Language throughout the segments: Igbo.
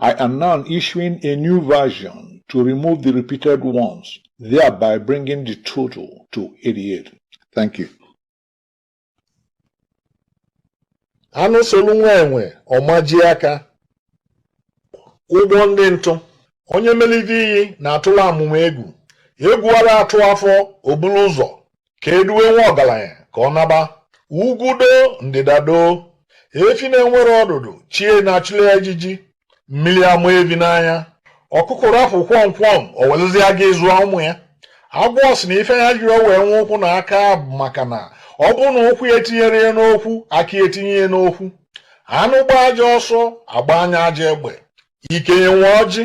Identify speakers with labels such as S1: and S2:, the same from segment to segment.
S1: I am now issuing a new version to remove the repeated ones, thereby bringing the total to 88. Thank you.
S2: anụ solu nwa enwe ọ majie aka ụgbọ ndị ntụ onye melite iyi na-atụla amụma egwu egwu ada atụ afọ o buru ụzọ ka eduwe nwa ọgaranya ka ọ naba ugwu doo ndịda doo efi na-enwerọ ọdụdụ chi ya na-achụli ya ijiji mmiri ama evi n'anya ọkụkọ rapụ kwọmkwọm o welụzi agaa zụọ ụmụ ya agwọ sị na ife ya jirọ wee nwe ụkwụ na aka bụ maka na ọ bụrụ na ụkwụ ya etinyerọ ya n'okwu aka ya etinye ya n'okwu anụ gbaa ajọ ọsọ agbaa ya ajọ egbe ikenye nwe ọjị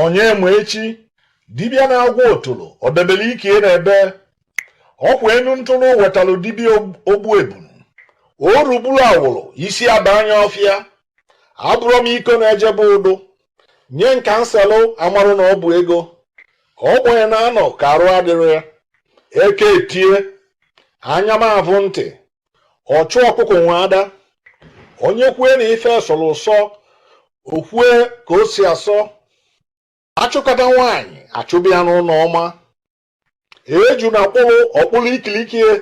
S2: onye ma echi dibịa na-agwọ otolo ọ debere ike na ebee ọ kwa enu ntụrụ wetalụ dibịa ogbu ebunu o rugburu awụrụ isi aba anya ọfịa abụrọ m iko na-eje be udu nye m ka m selụ amarọ na ọ bụ ego ogbenye na-anọ ka arụ adịrọ ya eke etie anya m avụ ntị ọchụ ọkụkọ nwe ada onye kwue na ife sọrọ ụsọ o kwue ka o si asọ achụkata nwaanyị achụba ya n'ụlọ ọma ejuna kpụrụ ọ kpụrụ ikiliki ye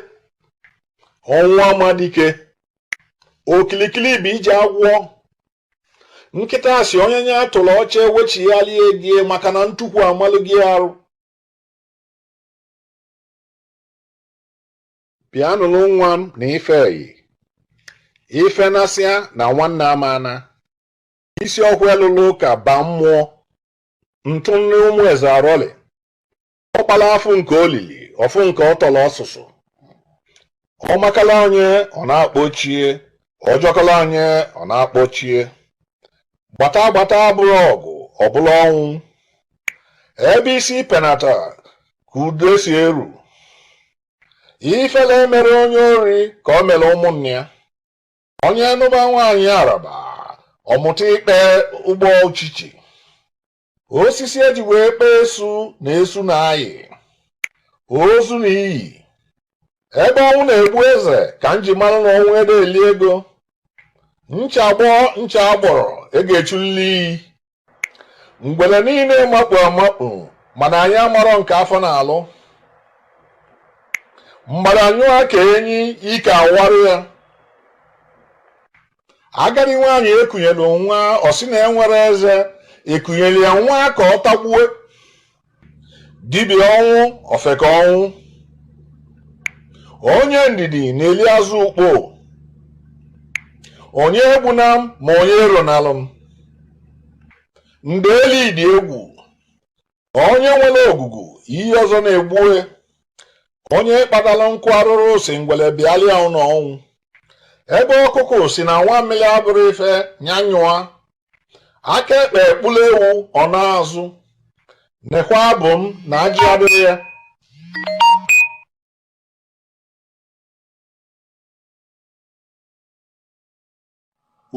S2: ọnwụ ama dike okilikili bụ ije agwọ nkịta sị onye nye atụrụ oche ewechigharịa egie maka na ntukwu amalugo ya arụ Bịa nụrụ nwa m na ife eyi ife nasịa na nwanne amana isi ọkụ elụlụ ụka ba mmụọ ntụ nri ụmụ eze arọlị ọkpala afụ nke olili ọ fụ nke ọtọrọ ọsụsụ ọ makala onye ọ na-akpọchie ọ jọkala onye ọ na-akpọchie gbata gbata abụrọ ọgụ ọ bụlụ ọnwụ ebe isi penata ka udo si eru ifele emerọ onye ori ka o mere ụmụnne ya onye nụba nwaanyị Araba ọ mụta ikpe ụgbọ uchichi osisi e ji wee kpee esu na esu na-ayi ozu na iyi ebe ọnwụ na-egbu eze ka m ji mara na ọnwụ ada eli ego ncha gbọọ ncha agbọrọ e ga-echulili iyi ngwele niile makpu amakpu mana anyị amarọ nke afọ na-alụ mgbada nyụọ ka enyi ike awarụ ya agadi nwaanyị ekunyelu nwa ọ sị na enwerọ eze ekunyere ya nwa ka ọ tagbuo dibịa ọnwụ ofeke ọnwụ onye ndidi na-eli azụ ukpo onye egbuna m ma onye eronalụ m ndeli dị egwu onye nwere ogugu ihe ọzọ na-egbue onye kpatara nkụ arụrụ sị ngwele bịalịa ụlọ ọnwụ ebe ọkụkụ si na-aṅụ mmiri abụrọ ife nyanyụa aka ekpe ekpula ewu ọ na-azụ nekwa abụ m na ajị adịrọ
S1: ya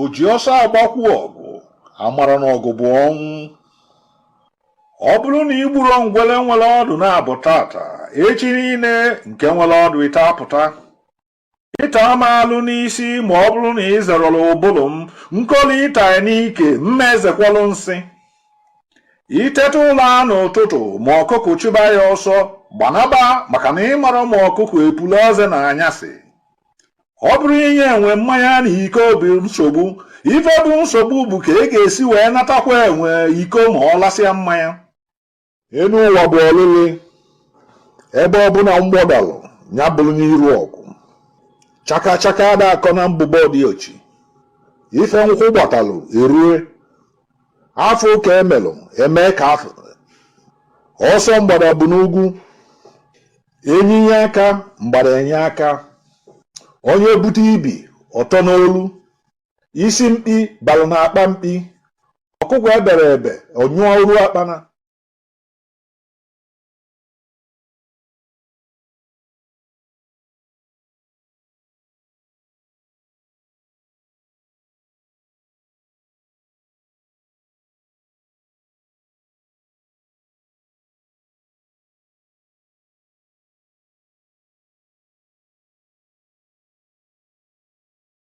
S1: o ji ọsọ agbakwu ọgụ amarọ na ọgụ bụ ọnwụ ọ bụrụ na i gburo ngwele nwere ọdụ naabọ tata echi niile nke nwere ọdụ ịtọ apụta ị taa m alụ n'isi ma ọ bụrụ na ị zerọlụ ụbụrụ m nkoli ịta n'ike m ma ezekwalụ nsị i teta ụla n'ụtụtụ ma ọkụkụ chụba ya ọsọ gbanaba maka na ị marọ ma ọkụkụ epulu eze n'anyasị ọ bụrọ inye enwe mmanya na iko bụ nsogbu ife bụ nsogbu bụ ka ị ga-esi wee natakwa enwe iko ma ọ lasịa mmanya enu ụwa bụ ọlịlị ebe ọbụla mgbọ dalụ ya bụrụ n'iru ọgụ chaka chaka ada akọ na mbụbọ di ochi ife nkwụ gbatalụ erue afọ ụka emelụ eme ka afọ ọsọ mgbada bụ n'ugwu enyi nye aka mgbada enye aka onye bute ibi ọtọ n'olu isi mkpi balụ na akpa mkpi ọkụkọ ebere ebe ọ nyụrọ akpana